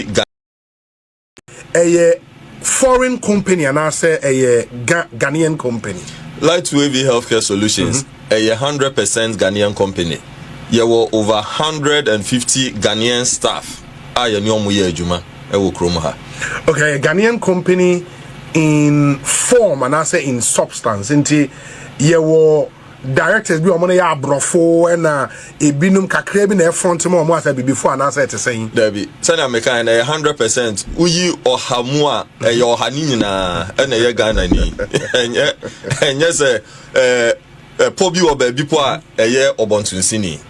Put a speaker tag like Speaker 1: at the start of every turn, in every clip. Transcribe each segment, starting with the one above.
Speaker 1: Ga. Ɛyɛ foreign company anaasɛ ɛyɛ Ga Ghanaian company? Lightwave
Speaker 2: Healthcare Solutions, ɛyɛ hundred percent Ghanaian company. Yɛwɔ over hundred and fifty Ghanaian staff a yɛne wɔn yɛ adwuma wɔ kurom ha.
Speaker 1: Okay, ɛyɛ Ghanaian company in form anaasɛ in substance nti yɛwɔ. directors bi a wɔn no yɛ aborɔfo ɛna ebinom kakraa bi na ɛfront ma wɔn asɛ bibifo anaasɛ ɛte sɛn. dabi sɛnea meka
Speaker 2: yɛn na ɛyɛ hundred percent woyi ɔha mu a ɛyɛ ɔha ne nyinaa ɛna ɛyɛ ghana ni ɛnyɛ ɛnyɛ sɛ ɛɛ ɛpɔ bi wɔ baabi po a ɛyɛ ɔbɔntonsini.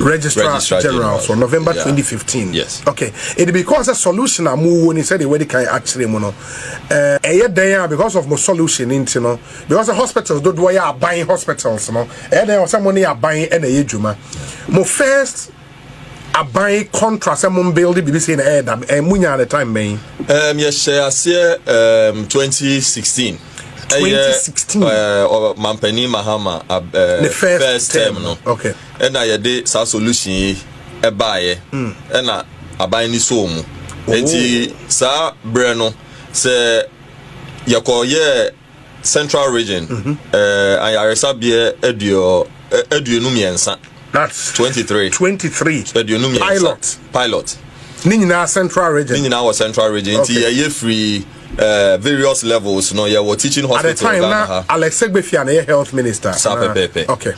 Speaker 2: registrar,
Speaker 1: registrar general, general so november yeah. 2015 yes okay
Speaker 2: it because
Speaker 1: a solution a mo wɔ ni sɛ de wɔde kan akyerɛ mu no ɛɛ eh, ɛyɛ dɛn a because of mo solution nti no because the hospitals dodoɔ yɛ aban hospitals no ɛyɛ dɛn ɔsɛ mo ne aban ɛna ɛyɛ adwuma mo first aban contract sɛ mo build biribi sɛ na ɛyɛ dam ɛɛ mo nya the time bɛn. ɛɛm yɛhyɛ
Speaker 2: aseɛ ɛɛm 2016. ɛyɛ
Speaker 1: ɔmampanin
Speaker 2: mahama ne first
Speaker 1: term no
Speaker 2: ɛna
Speaker 1: yɛde saa
Speaker 2: solution yi ɛbaeɛ hmm. ɛna aban ni soo mu oh. nti saa berɛ no sɛ yɛkɔyɛɛ central region mhm. ayaresabeɛ aduonu mmiɛnsa 23 23 aduonu mmiɛnsa pilot ne nyinaa
Speaker 1: central region ne nyinaa wɔ central region
Speaker 2: nti yɛyɛ firi eh, various levels no yɛwɔ teaching hospital time, ghana ha alex segbefia na yɛ
Speaker 1: health minister saa pɛpɛɛpɛ okay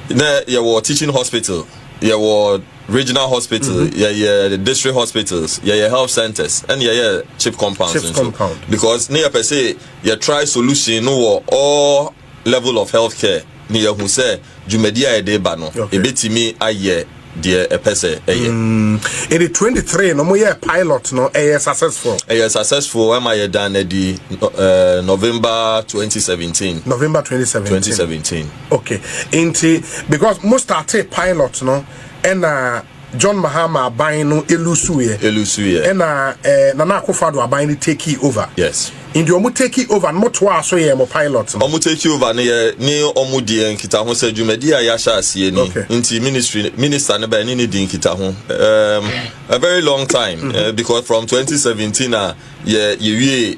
Speaker 1: na
Speaker 2: yɛwɔ teaching hospital yɛwɔ regional hospital mm -hmm. yɛyɛ district hospitals yɛyɛ health centers ɛna yɛyɛ chip compounds chip compound because ne yɛpɛ sɛ yɛtry solution no wɔ all level of health care ne yɛahu sɛ dwumadi a yɛde ba no ɛbɛtumi ayɛ deɛ ɛpɛ sɛ ɛyɛ. Mm, ɛde 23
Speaker 1: no moyɛ pilot no ɛyɛ successful ɛyɛ successful ɛma
Speaker 2: yɛdan no adi uh, November 2017 November 2017 2017 okay
Speaker 1: nti because mo started pilot no ɛna John Mahama aban no elusuuɛ. Elusuuɛ. Ɛna ɛɛ Nana Akufo-Addo aban no tekii over. Yes. Nti ɔmo
Speaker 2: tekii
Speaker 1: over no mo toaa so yɛɛ mo pilot no. Ɔmo tekii over no yɛ
Speaker 2: ne ɔmo deɛ nkitaho sɛ dwumadie a yahyɛ aseɛ ni. Okay. Nti ministry minister no ba ɛne no di nkitaho um, a very long time mm -hmm. uh, because from 2017 a yɛ yɛwie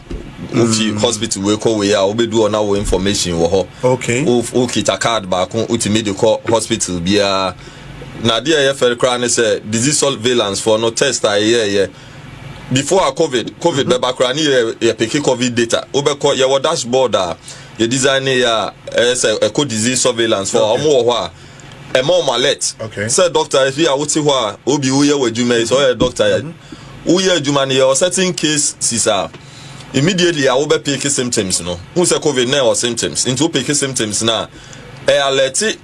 Speaker 2: wofi mm. hospital wei kɔ wei a wobɛdu hɔ na wo information wɔ hɔ okay. wokita
Speaker 1: card
Speaker 2: baako wotumi de kɔ hospital biara na adeɛ a ɛyɛ fɛre koraa ne sɛ disease surveillance foɔ no test a ɛyɛɛyɛ before a covid covid mm-hmm. bɛba koraa ne yɛ yɛ peke covid data wobɛkɔ yɛwɔ dashboard a yɛ design ne yɛ a ɛyɛ sɛ ɛkɔ disease surveillance foɔ a wɔn wɔ hɔ a ɛma wɔn alert sɛ doctor
Speaker 1: efi a
Speaker 2: wote hɔ a obi woyɛ wɔ adwuma yi sɛ ɔyɛ doctor yɛ. Mm-hmm. Woyɛ adwuma no yɛ ɔsetting case sis a, immediately a wobɛ peke symptoms no, hu sɛ covid na ɛwɔ symptoms, nti wopeke symptoms no a, ɛ alɛte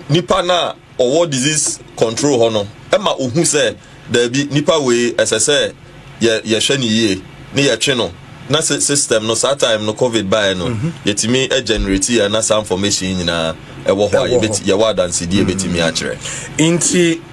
Speaker 2: nipa no a ɔwɔ disease control hɔ no ma ohu sɛ daabi nipa wei ɛsɛ sɛ yɛ yɛhwɛ no yie na yɛtwe no na system no saa time no covid baeɛ no mhm. yɛtumi generate yɛ na saa information nyinaa ɛwɔ hɔ a yɛwɔ adansedie bɛtumi akyerɛ nti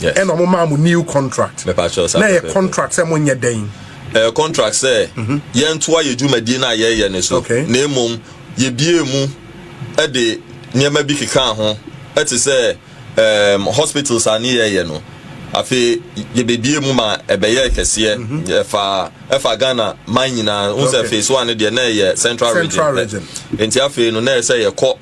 Speaker 2: yes ɛna ɔmo maa mo new
Speaker 1: contract mepatwɛ sɛ na ɛyɛ
Speaker 2: contract sɛ
Speaker 1: mo
Speaker 2: nyɛ
Speaker 1: dɛn ɛyɛ contract sɛ
Speaker 2: mhm. yɛntoa yɛ dwumadie no a yɛyɛ ne so na mmom yɛbie mu de nneɛma bi keka ho ɛte sɛ um, hospitals a ne yɛyɛ no afei yɛbɛbie mu ma ɛbɛyɛ kɛseɛ mhm. ɛfa ɛfa ghana man nyinaa wo sɛ phase one no deɛ na ɛyɛ central region nti afei no na ɛsɛ yɛkɔ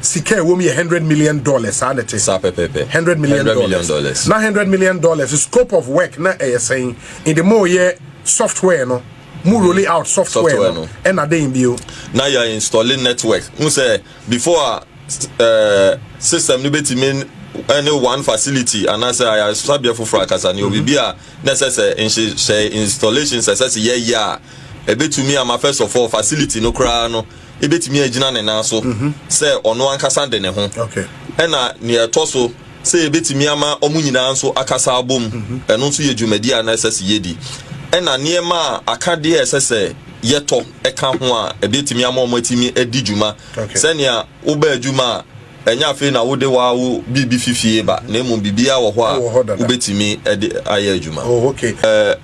Speaker 1: Sika a ɛwɔ mu yɛ hundred million dollars, saa na ɛte. Saa pɛpɛɛpɛ. Hundred million dollars. Hundred million dollars. Na hundred million dollars scope of work na ɛyɛ sɛn? Ɛde mo yɛ software no mu mm-hmm. rolling out software no ɛna den bio. Na yɛ installing
Speaker 2: network. N sɛ before a eh, system no bɛtumi ɛne eh, one facility anaasɛ ayaresabea foforɔ akasa ne obi mm-hmm. bi a na ɛsɛ sɛ nhyehyɛ installations ɛsɛ sɛ yɛyɛ a ɛbɛtumi ama first of all facility no koraa no ebetumi agyina ne nan so mhm. sɛ ɔno ankasa de ne ho ɛna
Speaker 1: nea ɛtɔ
Speaker 2: so sɛ ebetumi ama wɔn nyinaa nso akasa abom mhm. ɛno nso yɛ dwumadi a na ɛsɛ sɛ yɛdi ɛna nneɛma a akadeɛ a ɛsɛ sɛ yɛtɔ ɛka ho a ebetumi ama wɔn atumi adi dwuma sɛnea wobaa adwuma a Ɛnyɛ afei na wode woaa wo biribi fi fie ba, na mmom biribiara wɔ hɔ a wobɛtumi de ayɛ adwuma.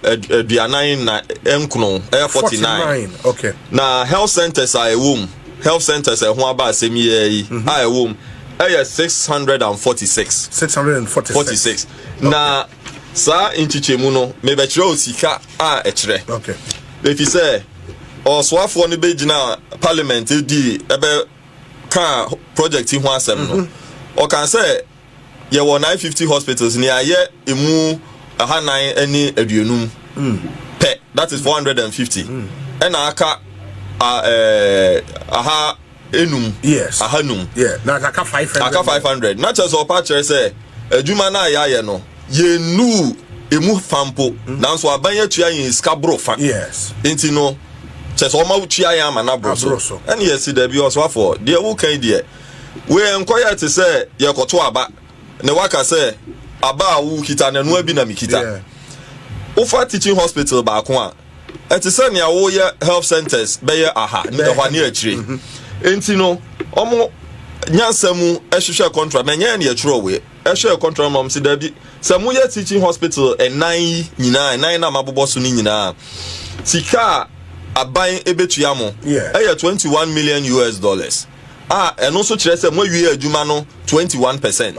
Speaker 1: Aduanan
Speaker 2: nna nkron, ɛyɛ forty nine. Na
Speaker 1: health centres
Speaker 2: a ɛwɔ mu, health centres a ɛho aba asɛm yi ara yi a ɛwɔ mu, ɛyɛ six hundred and forty six. Six hundred and forty six. Forty six. Na saa nkyekyɛmu no, mebɛkyerɛ o sika a ɛkyerɛ.
Speaker 1: Efisɛ
Speaker 2: ɔsoafoɔ no bɛgyina parliament di ɛbɛ. kaa project yi ho asɛm no, ɔkaa sɛ, Yɛwɔ 950 hospitals na yɛayɛ emu ahanan ne aduonum pɛ, that is 450, ɛna aka aha enum, ahanum,
Speaker 1: aka 500. Na kyerɛ sɛ ɔpa kyerɛ
Speaker 2: sɛ adwuma no a yɛayɛ no, Yennuu emu fa mpo, mm. nanso aban atua yɛn sika boro fa. Yes. Nti no, kyɛ sɛ ɔma wotua yɛn ama no aboro so. Ɛne yɛsi daabi ɔsoafoɔ, deɛ woka yi deɛ, wei nkɔyɛ te sɛ yɛkɔto aba, na waka sɛ aba a wokita no ɛnoa bi na mekita. Wofa teaching hospital baako a, ɛte sɛ nea woyɛ health centers bɛyɛ aha, ne ɛhɔ ne akyire. Mm-hmm. Nti no, ɔmo nyansa mu hwehwɛ contract, na ɛnyɛ ɛne ɛtwerɛ wei. Ɛhwɛɛ kɔntorɔ ma wɔse dabi, sɛ moyɛ teaching hospital nnan yi nyinaa, nnan no a mabobɔ so no nyinaa a, sika a aban bɛtua mo yɛ twenty one million US dollars a ɛno nso kyerɛ sɛ moawie adwuma no twenty one percent.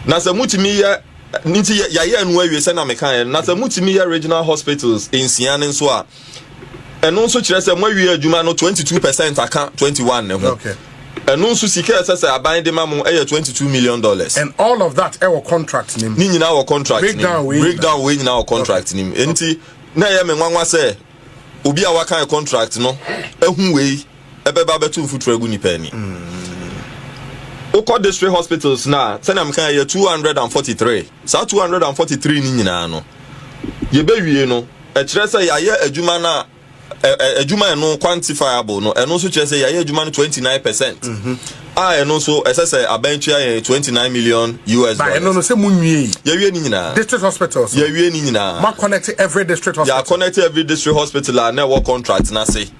Speaker 1: Na sɛ
Speaker 2: motumi yɛ nti yɛayɛ no awie sɛnea mekaeɛ no, na sɛ motumi yɛ regional hospitals nsia no nso a, Ɛno nso kyerɛ sɛ moawie adwuma no 22 percent aka 21 ne ho. Okay. Ɛno nso
Speaker 1: sika
Speaker 2: ɛsɛ sɛ aban de ma mo ɛyɛ 22 million dollars. And all of that
Speaker 1: ɛwɔ contract nim. Ne nyinaa wɔ contract nim. Breakdown
Speaker 2: wei breakdown wei nyinaa wɔ contract nim. Enti na ɛyɛ me nwanwa sɛ obi a waka contract no ehu wei. ɛbɛba abɛto mfuturo agu nnipa ani. Wokɔ district hospitals no a, sɛnea meka yɛ 243. Saa 243 no nyinaa no, yɛbɛwie no, ɛkyerɛ sɛ yɛayɛ adwuma no a adwuma ɛno quantifiable no, ɛno nso kyerɛ sɛ yɛayɛ adwuma no 29 percent. Mm-hmm. A ɛno nso ɛsɛ sɛ abɛn tua yɛn 29 million US dollars. Ɛno no sɛ mu
Speaker 1: nwie yi. Yɛwie ne nyinaa. District
Speaker 2: hospitals. Yɛwie
Speaker 1: ne nyinaa. Ma
Speaker 2: connect every district
Speaker 1: hospital. Yɛ connect every district
Speaker 2: hospital a na ɛwɔ contract n'ase.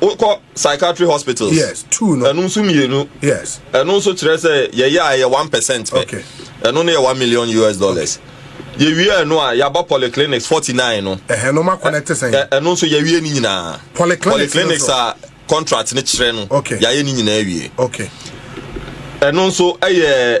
Speaker 2: wokɔ psychiatry hospitals yes two no ɛno nso
Speaker 1: mmienu yes
Speaker 2: ɛno nso
Speaker 1: kyerɛ sɛ
Speaker 2: yɛyɛ a ɛyɛ one percent pɛ okay
Speaker 1: ɛno no
Speaker 2: yɛ one million us dollars okay. yɛwie ɛno a yɛaba polyclinics forty nine no ɛhɛn no ma connect sɛn
Speaker 1: ɛno nso yɛwie ne
Speaker 2: nyinaa polyclinics, polyclinics a contract ne kyerɛ no okay yɛayɛ ne nyinaa wie okay
Speaker 1: ɛno
Speaker 2: nso ɛyɛ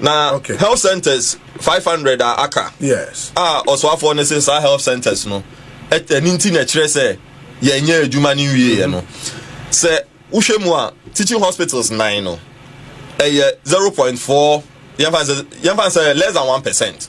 Speaker 2: na
Speaker 1: okay. health
Speaker 2: centers five hundred a aka yes. a
Speaker 1: ɔsoafoɔ no se
Speaker 2: saa health centers no ɛni nti na ɛkyerɛ sɛ yɛnyɛ adwuma no nwieɛ no sɛ wohwɛ mu a teaching hospitals nine no ɛyɛ zero point four yɛmfa sɛ less than one percent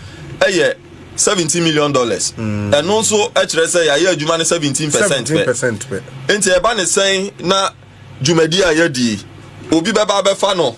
Speaker 2: yɛ seventeen million dollars mm. ɛno nso kyerɛ sɛ yɛayɛ adwuma no seventeen percent pɛ nti ɛba ne sɛn na dwumadi a yɛadi obi bɛba abɛfa no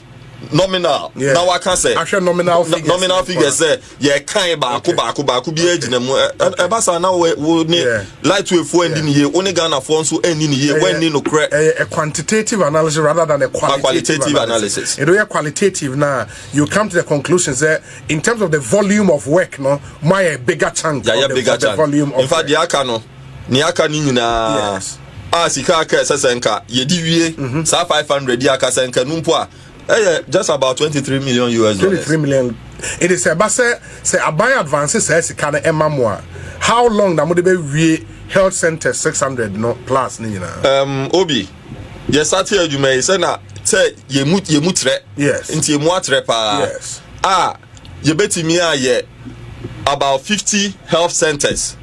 Speaker 2: nominal yeah. na waka sɛ ahwɛ nominal figures nominal
Speaker 1: figures sɛ
Speaker 2: yɛ kan baako baako baako bi agyina mu ɛba saa na wo wo ne light wave fo ɛndi ne yie wo ne ghana fo nso ɛndi ne yie wɔn ɛni no korɛ. ɛyɛ a quantitative
Speaker 1: analysis rather than a qualitative, a qualitative analysis. ɛdɔ yɛ
Speaker 2: qualitative
Speaker 1: na you come to the conclusion sɛ In terms of the volume of work no, mo ayɛ bigger chunk of the, bigger of the volume of work. In fact, deɛ aka no,
Speaker 2: nea aka no nyinaa. Yes. a sika aka ɛsɛ sɛ nka yɛde wie mhm. saa 500 yi aka sɛ nka no mpo a ɛyɛ just about 23 million us dollars 23 million
Speaker 1: ɛde sɛ ɛba sɛ sɛ aban advance saa sika no ɛma mo a how long na mode bɛwie health center 600 no plus ne nyinaa um, obi
Speaker 2: yɛsate adwuma yi sɛ na sɛ yɛmu yɛmu trɛ yes. nti yɛmu
Speaker 1: atrɛ paa
Speaker 2: yes. a yɛbɛtumi ayɛ about fifty health centers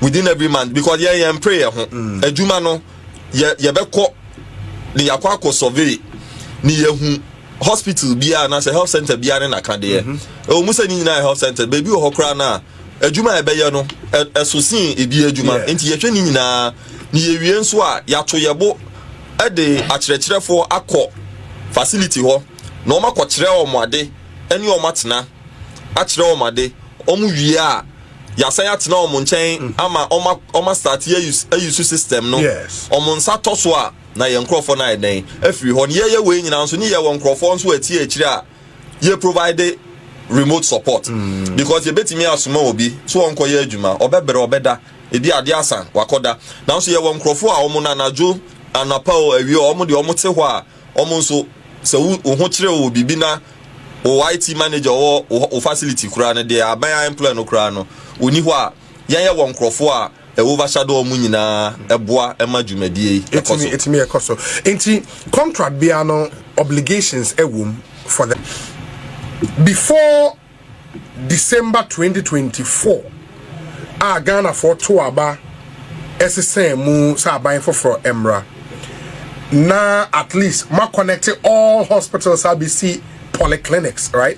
Speaker 2: within every month because yɛn yɛn mpere yɛn ho mm. adwuma no yɛ yɛbɛkɔ ne yɛakɔ akɔ survey ne yɛhu hospital biara anaasɛ health center biara ne naka deɛ ɛwɔ mu sɛ ne nyinaa health center baabi wɔ hɔ koraa no a adwuma a ɛbɛyɛ no ɛso sen ebi adwuma nti yɛhwɛ ne nyinaa ne yɛwie nso a yɛato yɛbo de akyerɛkyerɛfoɔ akɔ facility hɔ na wɔn akɔkyerɛ wɔn ade ne wɔn atena akyerɛ wɔn ade wɔn wie a yɛasan atena wɔn nkyɛn mm. ama wɔn asate ayi so system no wɔn nsa tɔ so a na yɛn nkurɔfoɔ no ayɛ dɛn afiri hɔ ne yɛyɛ wei nyinaa nso ne yɛwɔ nkurɔfoɔ nso atie akyire a yɛ provide remote support mm. because yɛbɛtumi asoma obi so wɔnkɔyɛ adwuma ɔbɛbrɛ ɔbɛda ebi ade asa wakɔda nanso yɛwɔ nkurɔfoɔ a wɔn no anadwo anapa o awie wɔn deɛ wɔn te hɔ a wɔn nso sɛ wo ho kyerɛ wɔ biribi na wɔ IT manager wɔ wɔ facility koraa no deɛ aban employ no koraa no wɔni hɔ a Yɛn yɛ wɔ nkorɔfoɔ a Yehova hyɛ da wɔn nyinaa boa ma dwumadie yi kɔ so. Ɛtumi ɛkɔ so.
Speaker 1: Nti contract biara no obligations ɛwom for the before December twenty twenty four a Ghanafoɔ too aba ɛsesɛɛ mu sɛ aban foforɔ ɛmmra na at least mo aconnect all hospitals abɛsi polyclinics right.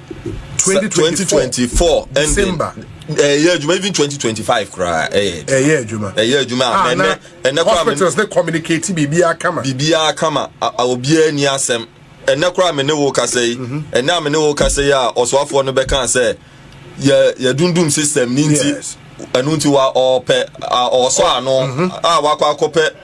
Speaker 2: twenty twenty twenty four
Speaker 1: december ɛyɛ eh, adwuma
Speaker 2: even twenty twenty five koraa ɛyɛ eh, ɛyɛ eh, adwuma
Speaker 1: ɛyɛ adwuma a ah, ɛnɛ
Speaker 2: ɛnɛ koraa hospitals ne communicate
Speaker 1: biribiara kama biribiara kama
Speaker 2: obiara ni asɛm ɛnɛ koraa me ne wo kasa yi mhm. ɛnɛ a me ne wo kasa yi a ɔsoafoɔ no bɛka sɛ yɛ yɛ dundum system ni nti ɛnu nti wa ɔpɛ ɔsɔ ano mhm. a wakɔ akɔpɛ.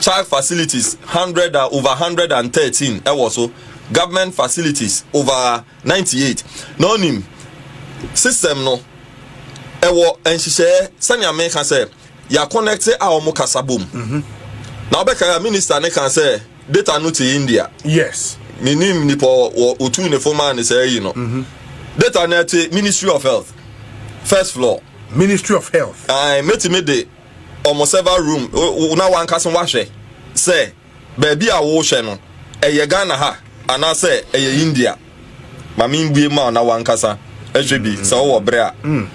Speaker 2: Child facilities hundred a over hundred and thirteen ɛwɔ so government facilities over ninety eight na ɔnim system no ɛwɔ nhyehyɛɛ sɛnea meka sɛ yɛakɔnɛkte a wɔn kasa bom mhm. na ɔbɛka a minister ne ka sɛ data no te India yes
Speaker 1: menim nipa
Speaker 2: ɔtu ne fo maa ne saa yi no mhm. data no ɛte ministry of health first floor ministry of health
Speaker 1: ɛɛ mɛtumi de
Speaker 2: wɔn server room na w'ankasa w'ahwɛ sɛ baabi a wohwɛ no ɛyɛ Ghana ha anaasɛ ɛyɛ India ma me mbue ma na w'ankasa ɛhwɛ bi sɛ ɔwɔ bere a. Mm.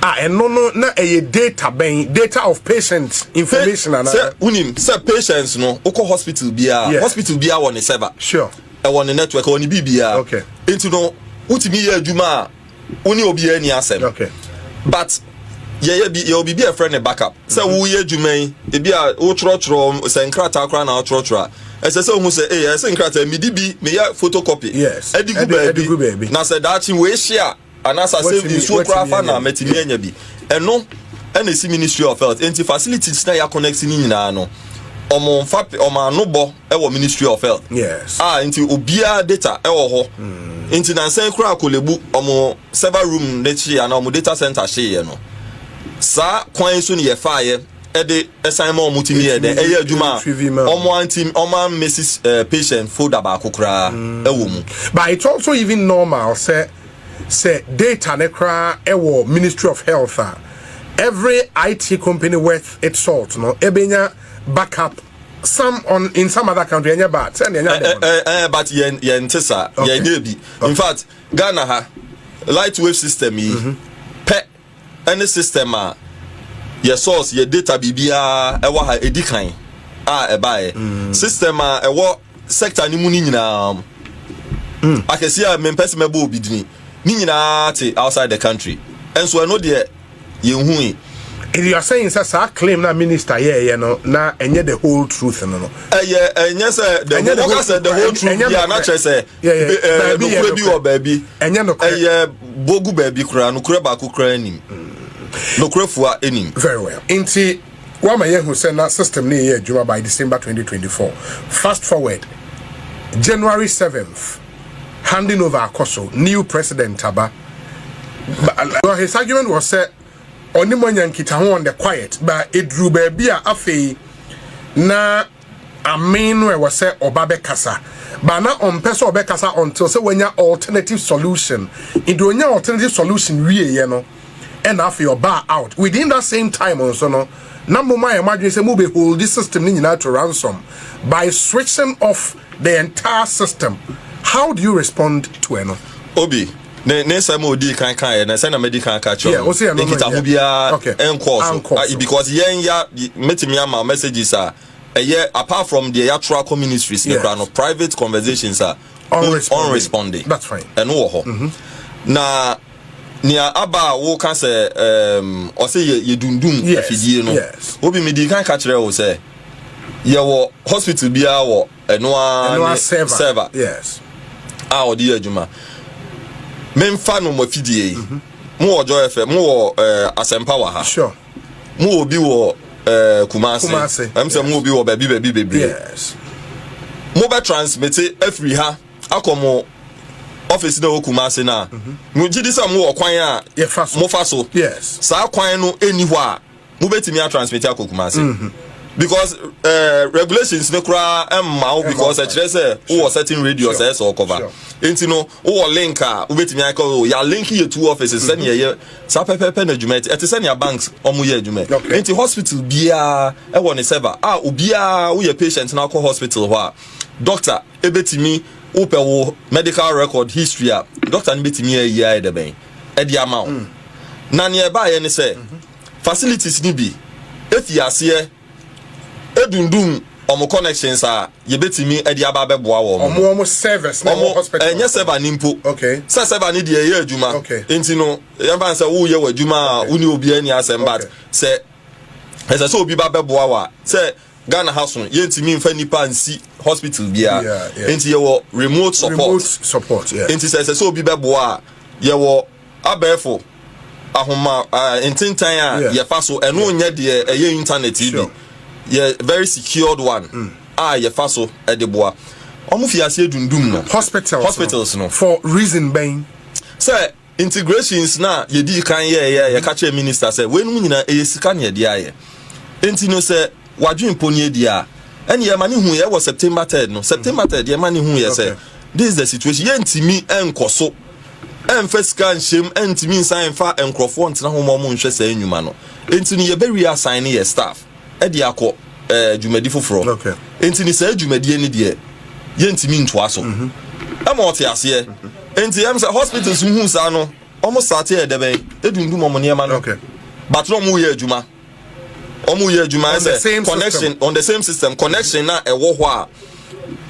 Speaker 1: Ah, ɛno no na ɛyɛ data bɛn data of patient information anaa. sɛ wonim sɛ
Speaker 2: patients no wokɔ hospital biara hospital biara wɔ ne server sure ɛwɔ ne
Speaker 1: network ɛwɔ
Speaker 2: ne biribiara nti no wotumi yɛ adwuma a wo ne obiara nni asɛm okay. but yɛyɛ bi yɛwɔ biribi a ɛfrɛ no backup sɛ mhm. woyɛ adwuma yi ebi a wotwerɛtwerɛ sɛ nkrataa koraa na wotwerɛtwerɛ a ɛsɛ sɛ ohun sɛ ee ɛsɛ nkrataa midi bi meyɛ photocopy ɛdi gu baabi na sɛ daakye wei hyia anaasɛ asɛm bi nsuo koraa fa na mɛtumi anya bi ɛno ɛna esi ministry of health nti facilities na yɛ connect ne nyinaa no ɔmo nfa ɔmo ano bɔ ɛwɔ ministry of health yes. a ah, nti
Speaker 1: obiara
Speaker 2: data ɛwɔ hɔ mm. nti nansan kura akolebu ɔmo server room ne kyeya na ɔmo data center hyeeɛ no saa kwan so ne yɛfaayɛ ɛde ɛsan ma ɔmo tumi yɛ dɛ ɛyɛ adwuma a ɔmo anti ɔmo amesi ɛɛ eh, patient folder baako koraa mm. ɛwɔ mu. but it's also even
Speaker 1: normal sɛ sɛ data ne koraa ɛwɔ ministry of health a every it company worth its salt no ebenya backup. some on in some other country ɛnyɛ bad sɛ nea ɛnyɛ ade wɔn. ɛɛ ɛɛ but yɛn yɛn ti
Speaker 2: sa yɛn nyɛ bi in fact ghana ha light wave system yi mhm. pɛ ɛne system a yɛ source yɛ data biribiara ɛwɔ ha edi kan a ɛbaeɛ mm. system a ɛwɔ sector ne mu ne nyinaa mm. akɛse a mempɛ sɛ mɛbɔ obi dini ne nyinaa te outside the country ɛnso ɛno deɛ Yenhui. Wiase
Speaker 1: nsɛ saa claim no a minister yɛɛyɛ no na ɛnyɛ the whole truth no no. Ɛyɛ ɛnyɛ sɛ
Speaker 2: the whole wɔka sɛ the whole truth bi a na kyerɛ sɛ ɛɛ nokorɛ bi wɔ baabi. Ɛnyɛ nokorɛ. Ɛyɛ
Speaker 1: bogu baabi
Speaker 2: koraa nokorɛ baako koraa nim. Nokorɛ fua nim. Very well. Nti
Speaker 1: wama yɛ hu sɛ na system no yɛ adwuma by December 2024. Fast forward January 7th handing over akɔ so new president aba. But his argument was sɛ ɔne mu anya nkitaho on the quiet but eduru baabi a afei na amen no ɛwɔ sɛ ɔba bɛkasa but na ɔmpɛ sɛ ɔbɛkasa until sɛ wanya alternative solution nti onya alternative solution wieɛ no ɛna afei ɔbaa out within that same time nso no na moma yɛ mo adwene sɛ mobɛholdi system no nyinaa to ransom by switching off The entire system, how do you respond to ɛno? Obi, ne,
Speaker 2: ne nsɛm a odii kan kaeɛ no, sɛnea madi kan aka kyerɛ Yeah, wo, ɔse ɛno no nkitaho nyɛ.
Speaker 1: biara Okay.
Speaker 2: nkɔɔ so. Ankɔ Ah, so. Because yɛn ya, mɛtumi ama messages a ɛyɛ, apart from deɛ yɛatwerɛ akɔ ministries no Yes. koraa no, private conversations a On wo- responding. on responding. That's fine. Mm-hmm. Ɛno
Speaker 1: wɔ hɔ.
Speaker 2: Na nea aba a woka sɛ, um, ɔse yɛ, yɛdundum Yes, afidie no, yes. Obi, medii kan ka kyerɛɛ wo sɛ, Yɛwɔ hospital biara wɔ ɛno ara ne server
Speaker 1: a wɔde yɛ
Speaker 2: adwuma. Memfa no mo afidie yi. Mhm. Mo wɔ Joy FM, mo wɔ eh, Asɛmpa wɔ ha. Sure. Mo
Speaker 1: wɔ bi
Speaker 2: wɔ eh, Kumase. Kumase. Ɛm sɛ mo wɔ bi wɔ baabi baabi bebree. Yes.
Speaker 1: Mo bɛ
Speaker 2: transmit afiri ha akɔ mo ɔfisi na ɛwɔ Kumase na. Mhm. Mo gyi di sɛ mo wɔ kwan a. Yɛfa so. Mo fa so. Yes. Saa kwan no ɛni hɔ a. wobɛtumi atransmiti akɔ kumase mhm. because uh, regulations ne koraa mma wo because ɛkyerɛ sɛ wowɔ certain radius ɛyɛ sɛ ɔkɔva nti no wowɔ link a wobɛtumi ayɛ kɔ yɛ link yɛ two offices mhm. sɛnea ɛyɛ saa pɛpɛpɛ na adwuma ɛte ɛte sɛnea banks ɔmo yɛ adwuma nti hospital biara ɛwɔ ne server a ah, obiara woyɛ patient na akɔ hospital hɔ a doctor ɛbɛtumi wopɛ wo medical record history a doctor no bɛtumi ayi ayɛ dɛ bɛn ɛde ama wo mm. na neɛ ɛbaeɛ ne sɛ mhm. Facilities no bi fii aseɛ dundum wɔn connections a yɛbɛtumi de aba abɛboa wɔn no. Wɔn wɔn servers na
Speaker 1: ɛwɔ hospital. Ɛnyɛ server no mpo.
Speaker 2: Okay. Sɛ server no
Speaker 1: deɛ ɛyɛ
Speaker 2: adwuma. Okay. Nti no yɛmfa no sɛ woyɛ w'adwuma a wo ne obiara ni asɛm but sɛ ɛsɛ sɛ obi ba bɛboa wo a sɛ Ghana ha so yɛntumi mfa nipa nsi hospital biara. Nti yɛwɔ remote support. Remote support, yeah. Nti sɛ ɛsɛ sɛ obi bɛboa a yɛwɔ Abɛɛfo ahoma ntentan a yɛfa so, ɛno nyɛ deɛ ɛyɛ internet yi bi, yɛ very secured one mm. a yɛfa so de boa. Wɔn fi aseɛ dundum no. Hospitals, hospitals no. For reason bɛn?
Speaker 1: Sɛ
Speaker 2: integrations na yɛdi kan yɛɛyɛ yɛka kyerɛ minister sɛ weinom nyinaa ɛyɛ sika na yɛde ayɛ. Nti no sɛ W'adwene mpo nie deɛ a, ɛneɛ ɛma ne huuiɛ wɔ September third no. September third deɛ ɛma ne huuiɛ sɛ, this is the situation, yɛntumi nkɔso ɛmfa sika nhyɛm, ɛntumi nsan mfa nkorɔfoɔ ntena ho ma wɔnhwɛ saa nnwuma no. Enti no yɛbɛ re-assign yɛ staff ɛde akɔ ɛɛ dwumadi foforɔ. Enti no saa dwumadie no deɛ yɛntumi ntoa so. Ɛma ɔte aseɛ. Enti ɛm sɛ hospitals no huu saa no, wɔn starte ɛyɛ dɛbɛn, ɛdundum wɔn nneɛma no. But na wɔn reyɛ adwuma. wɔn yɛ adwuma On the sɛ same connection system. on the same system connection na ɛwɔ hɔ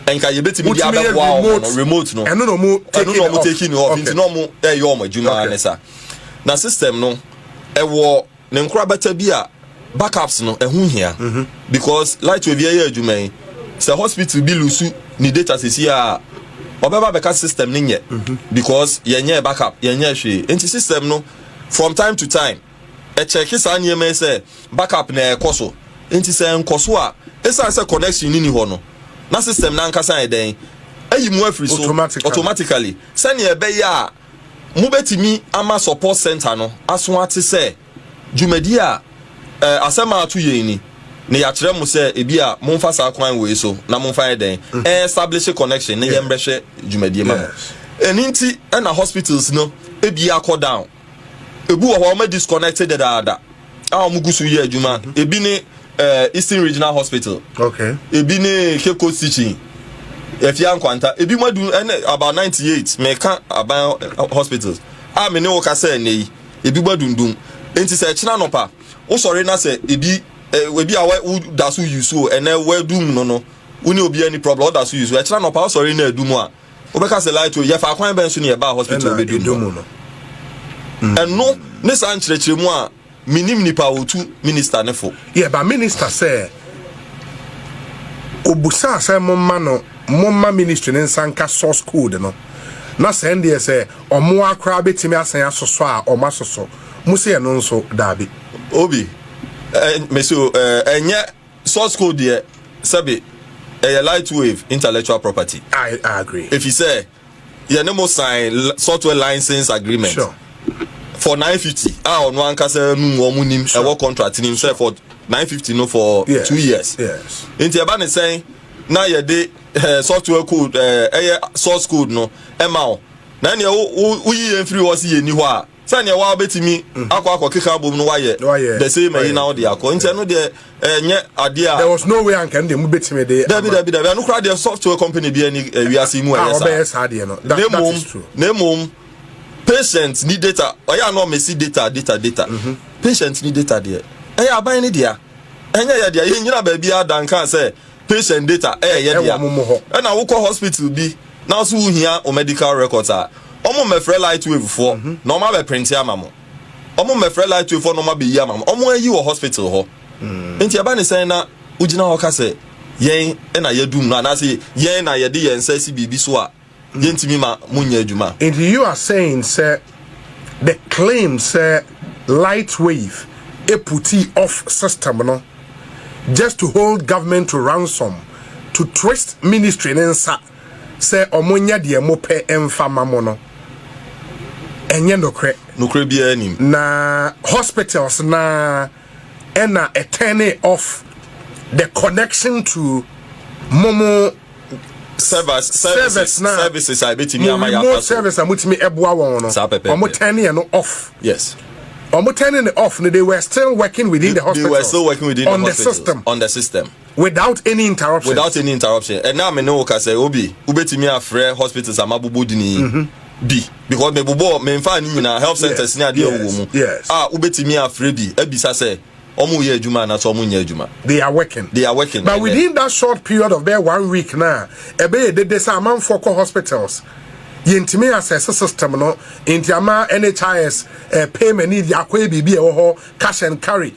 Speaker 2: a nka yɛbɛtumi de Wotumi yɛ abɛboa wɔn no remote. remote no Ɛno na wɔn ɛno taking na it wɔn off.
Speaker 1: taking off Okay.
Speaker 2: nti na wɔn ɛyɛ wɔn adwuma Okay. ne sa na system no ɛwɔ ne nkorabata bi a backups no ɛho hia Mhm. because light wave yɛyɛ adwuma yi sɛ hospital bi lusu ne data sisi a ɔbɛba bɛka system no nyɛ Mhm. because yɛnyɛ backup yɛnyɛ hwee nti system no from time to time Ɛkyɛke saa nneɛma yi sɛ backup na ɛkɔ so, enti sɛ ɛnkɔ so a, esiane sɛ connection no nni hɔ no, na system no ankasa ayɛ dɛn? Ayi mo afiri so automatically, sɛnea ɛbɛyɛ a mobɛtumi ama support center no aso ate sɛ dwumadi a eh, asɛm a ato yɛn ni, na yɛakyerɛ mo sɛ ebi a momfa saa kwan wei so na momfa yɛ dɛn? Mhm. Eh, establish connection ne yɛmmɛhwɛ dwumadie ma mo. Ɛno nti na hospitals no ebi akɔ down. ebi wɔ hɔ wɔn disconnected dadaada a wɔn gu so yɛ adwuma mhm. ebi ne eh, eastern regional hospital ebi ne cape coast teaching efia nkwanta ebi mu adu ɛne about ninety eight mɛka aban eh, hospitals a me ne wo kasa ɛnɛ yi ebi mu adundum nti sɛ ɛkyina nɔpa wosɔre na sɛ ebi eh, ebi a woda so yi so ɛnɛ wɔadum no no wo ne obi ani problem ɔda so yi so ɛkyina nɔpa wosɔre na adum a. Wobɛka sɛ light o, yɛ fa kwan bɛn so na yɛbaa hospital bɛduru hɔ? Mm. Ɛno ne saa nkyerɛkyerɛmu a menim nipa a ɔtu minista ne fo. Yɛba minista sɛ
Speaker 1: ɔbusaa sɛ momma no momma ministry ne nsa nka source code no na sɛ ndeɛ sɛ ɔmo akoraa bɛtumi asan asosɔ a ɔmo asosɔ mo sɛ ɛno nso daabi. Obi,
Speaker 2: eh, meso, eh, ɛnyɛ Source code deɛ, sɛbe, ɛyɛ Lightwave intellectual property. I agree.
Speaker 1: Efisɛ,
Speaker 2: yɛne mo sign software license agreement. Sure. For 950, a ɔno ankasa num wɔn nim sure. ɛwɔ contract nim sure. sɛ for 950 no for yes. two years. Yes. Nti ɛba ne
Speaker 1: sɛn
Speaker 2: na yɛde eh, software code eh, ɛyɛ eh, source code no ɛma wo na ɛnneɛ woyi yɛn firi hɔ si yɛn ni hɔ a Sɛ neɛ woaa bɛtumi akɔ akɔkeka abom no woayɛ the same ayi na wode akɔ nti ɛno deɛ ɛnyɛ adeɛ a. There was no way anka ɛno
Speaker 1: deɛ mobɛtumi de ama. Dabi dabi dabi ɛno koraa deɛ
Speaker 2: software company biara ni wiase yi mu a wɔbɛyɛ saa deɛ no that that is true.
Speaker 1: Na mmom
Speaker 2: patient ni data ɔyɛ a na ɔmɛsi data data data patient ni data deɛ ɛyɛ aban no dea ɛnyɛ yɛ dea yɛnnyina baabiara da nkaa sɛ. patient data ɛyɛ dea ɛna wokɔ hospital bi na nso wohia wo medical records a ɔmo mmɛfrɛ lightwave foɔ mhm. na ɔmo abɛ print ama mo ɔmo mmɛfrɛ lightwave foɔ na ɔmo abɛyi ama mo ɔmo ayi wɔ hospital hɔ mm. nti ɛba ne sɛn na wogyina hɔ ka sɛ yɛn na yɛdum no anaasɛ yɛn na yɛde yɛn nsa si biribi so a Yɛntumi ma mo nyɛ adwuma. Nti you are saying
Speaker 1: sɛ the claim sɛ light wave putii off system no just to hold government to ransom to twist ministry no nsa sɛ ɔmo nyɛ deɛ mo pɛ nfa mma mo no ɛnyɛ nokorɛ. Nokorɛ biara nnim. Na hospitals no ara.
Speaker 2: ɛna
Speaker 1: ɛtɛne off the connection to momo service service
Speaker 2: na services a ebetumi ama yɛ afa so service a mutumi
Speaker 1: ɛboa wɔn no wɔn tɛne yɛ no off yes wɔn
Speaker 2: tɛne ne
Speaker 1: off no they were still working within the hospital they were still working within the hospital
Speaker 2: on the system on the system. Without any
Speaker 1: interruptions. Without any interruption. Ɛnna a
Speaker 2: me ne wo kasa yi, Obi, wobɛtumi afrɛ hospitals a mabobɔ din yi mm-hmm. bi. Because mebobɔ, memfaa ne nyinaa, health centers ne adeɛ wɔ mu. A wobɛtumi afrɛ bi, abisa sɛ, wɔn yɛ adwuma anaasɛ wɔn nyɛ adwuma. they are working. they are working. but within that
Speaker 1: short period of bɛyɛ one week na ɛbɛyɛ dede sɛ amanfoɔ kɔ hospitals yɛntumi asɛse system no nti ama nhis eh, payment ne akɔyɛ biribi a ɛwɔ hɔ cash and carry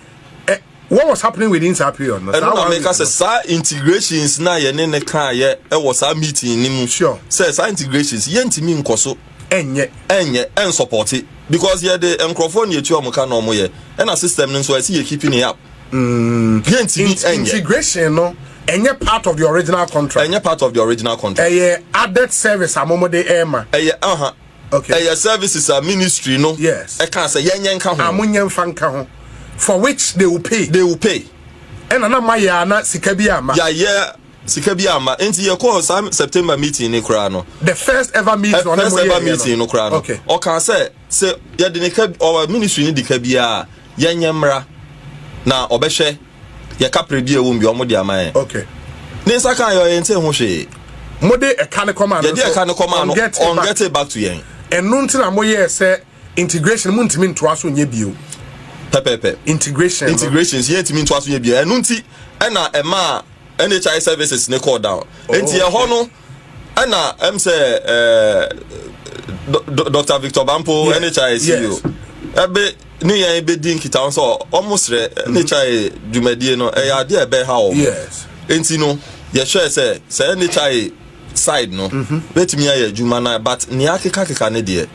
Speaker 1: eh, What was happening within saa period no? Ɛno na meka sɛ
Speaker 2: saa integrations na yɛne ne kaayɛ ɛwɔ saa meeting no mu. Sure. Sɛ saa integrations yɛntumi nkɔ so. Ɛnyɛ. Ɛnyɛ ɛnsɔpɔte because yɛde nkurɔfoɔ na yɛtua wɔn ka na wɔn yɛ ɛna system no nso ɛsi yɛ keeping it up. Mm. Yɛntumi ɛnyɛ. Integration
Speaker 1: no ɛnyɛ part of the original contract. Ɛnyɛ part of the original contract. Ɛyɛ added service amomode ɛma. Ɛyɛ aha. Uh -huh. Okay.
Speaker 2: Ɛyɛ services a ministry no. Yes. Ɛka sɛ yɛn nyɛ
Speaker 1: nka ho.
Speaker 2: Amu nyɛ nfa nka ho.
Speaker 1: For which they will pay. They will pay. Ɛna na ma yɛ ana sika bi ama. Yɛ ayɛ
Speaker 2: sika bi ama nti yɛ kɔɔ saa september meeting ni koraa no. the first ever
Speaker 1: meeting ɔne mo yɛ yɛ no first ever meeting no koraa
Speaker 2: no ɔkan sɛ
Speaker 1: sɛ
Speaker 2: yɛde ne ka ɔwɔ ministry ni de ka biara yɛnyɛ mmra na ɔbɛhwɛ. yɛka pere bi a ɛwom bi wɔn de ama yɛn. okay. ne
Speaker 1: nsa kan yɛ
Speaker 2: ɔyɛ nte ho hwee. mo de ɛka
Speaker 1: ne kɔma no yɛde ɛka ne kɔma
Speaker 2: no on get it back to yɛn. ɛno nti na mo yɛ
Speaker 1: sɛ integration mo ntumi ntoa so nyɛ bio. pɛpɛpɛ integration integration yɛ ntumi ntoa so nyɛ
Speaker 2: bio ɛno nti ɛna ɛmaa NHI services ne call down. Oh, nti ɛhɔ no ɛna ɛm sɛ ɛɛ dr victor bampo ɛne kya ɛsi yi o ɛbɛ ne yɛn ɛbɛdi nkita ho sɛ ɔmo srɛ ɛne kya ɛ dwumadie no ɛyɛ adeɛ a ɛbɛha ɔmo nti no yɛhwɛ sɛ sɛ ɛne kya ɛ side no mm-hmm. bɛtumi ayɛ adwuma no but nea akekakeka ne deɛ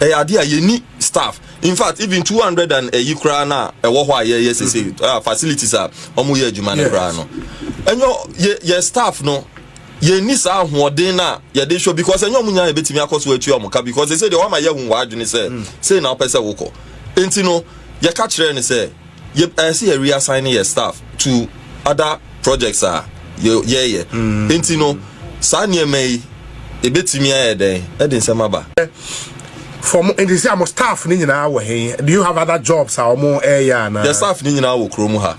Speaker 2: ɛyɛ adeɛ a yɛni staff in fact even two hundred and ɛyi koraa no a ɛwɔ hɔ a yɛyɛ sese mm-hmm. ah, facilities a ɔmo yɛ adwuma no koraa no ɛnyɛ yɛ staff no yɛnni saa ahoɔden no a yɛde hwɛ because ɛnyɛ ɔmo nyinaa yɛbɛtumi akɔ so atua ɔmo ka because ɛsɛ deɛ wama yɛahu w'adwene sɛ mm. sei na wopɛ sɛ wokɔ nti no yɛka kyerɛ no sɛ ɛsɛ yɛ reassign yɛ staff to other projects a yɛyɛ mm. nti no saa nneɛma yi ɛbɛtumi ayɛ dɛn ɛde nsɛm aba for
Speaker 1: mo nti sɛ mo staff ne nyinaa wɔ he do you have other jobs a wɔn ɛyɛ anaa yɛ staff ne nyinaa wɔ kurom
Speaker 2: ha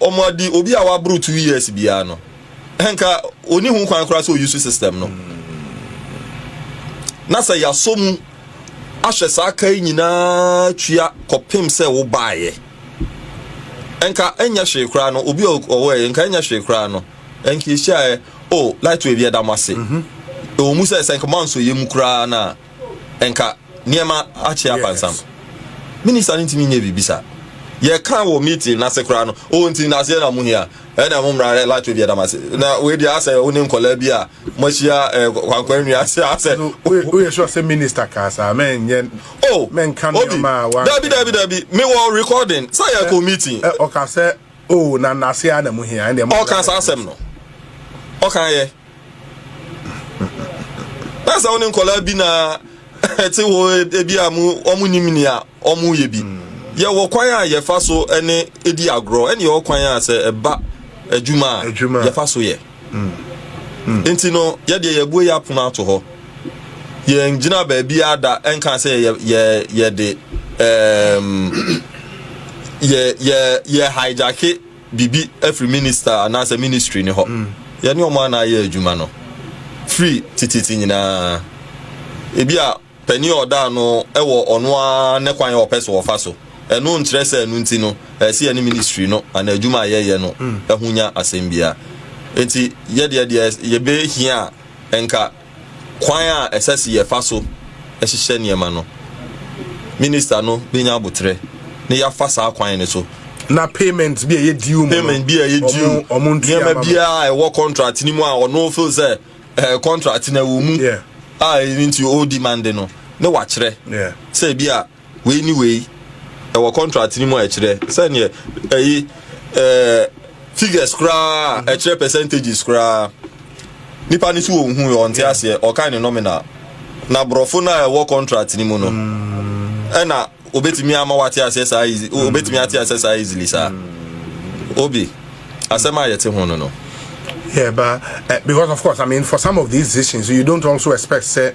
Speaker 2: Wɔn adi obi a waboro two years biara no nka oni ho kwan koraa sɛ oyi so system no. Na sɛ yasɔ mu ahwɛ saa ka yi nyinaa tua kɔpem sɛ wobaeɛ nka ɛnyɛ hwee koraa no obi ɔwɔɛ nka ɛnyɛ hwee koraa no nka ɛhyiaɛ o oh, lightway bi ɛda mo ase ɛwɔ mu sɛ sɛ nka moansɔ yɛ mu koraa no a nka nneɛma akye apansam. Minister no ntumi nyɛ biribi saa. Yɛka wɔ meeting n'ase koraa no, o oh, nti n'aseɛ na mo hia, ɛna mo mmara hɛ lato bi ɛdam ase. Na wei deɛ asɛ wo ne nkɔlaa bi a moahyia eh, kwankwan nwi ase asɛ. Woyɛ sure
Speaker 1: sɛ minister kaa saa mɛnyɛ oh, mɛnka nneɛma a wa. Dabi dabi dabi, mewɔ
Speaker 2: recording sɛ yɛkɔ meeting. Ɔka sɛ
Speaker 1: o oh, na n'aseɛ na mo hia. Ɔka saa asɛm no,
Speaker 2: ɔka yɛ. na sɛ wo ne nkɔlaa bi na ɛte hɔ ebi a mo wɔn nim nea wɔn yɛ bi mm. yɛwɔ kwan a yɛfa so ne di agorɔ ɛne yɛwɔ kwan a sɛ ɛba adwuma a yɛfa so yɛ mm. Mm. nti no yɛdeɛ yɛbue yɛ apono ato hɔ yɛn gyina baabi ada ɛnka sɛ yɛ yɛ yɛde ɛɛm yɛ yɛ yɛ hajake. biribi afiri minista anaasɛ ministry no hɔ. Yɛne wɔn a na ayɛ adwuma no firi tititi nyinaa. Ebi a panin a ɔda ano wɔ ɔno ara ne kwan a ɔpɛ so ɔfa so. Ɛno nkyerɛ sɛ ɛno nti no ɛyɛ sɛ yɛne ministry no anaa adwuma a yɛyɛ no ho nya asɛm biara. Enti yɛdeɛ deɛ yɛbɛhia a nka Kwan a ɛsɛ se yɛfa so hyehyɛ nneɛma no, Minista no benya aboterɛ na yɛafa saa kwan no so. Na
Speaker 1: payment bi a ɛyɛ due mu no, payment bi a ɛyɛ due,
Speaker 2: wɔn, wɔn ntua nneɛma ma biara a ɛwɔ contract no mu a ɔno feel sɛ eh, contract no ɛwɔ mu Yeah, a ɛno nti ɔredemande no, ne wakyerɛ yeah. sɛ ebi a Wei ne wei, ɛwɔ contract no mu a ɛkyerɛ sɛdeɛ ɛyi ɛɛ figures koraa ɛkyerɛ percentages koraa. Nipa no so wɔn hu yɛ ɔnte aseɛ ɔkan ne nominal na borɔfo no a ɛwɔ contract no mu no ɛna obetumi ama wate aseɛ saa easy obetumi ate aseɛ saa easily saa obi asɛm a yɛte ho no no. Yeah, but
Speaker 1: uh, because of course, I mean, for some of these decisions, you don't also expect say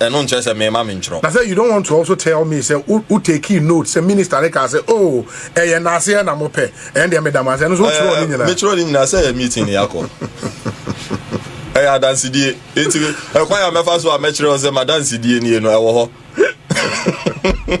Speaker 2: Ɛno nkyerɛ sɛ mema mentwerɛ. Na sɛ you don't want to also
Speaker 1: tell me sɛ wo wo takee note sɛ minister no kaa sɛ oh ɛyɛ naaseɛ na mo pɛ ɛn deɛ meda mo ase ɛno nso wo twerɛɔ ne nyinaa. Me twerɛ ne nyinaa sɛ ɛyɛ meeting
Speaker 2: ne yɛakɔ ɛyɛ adansedie nti ɛkwan a mɛfa so a mɛkyerɛ wo sɛ madansedie nie no ɛwɔ hɔ.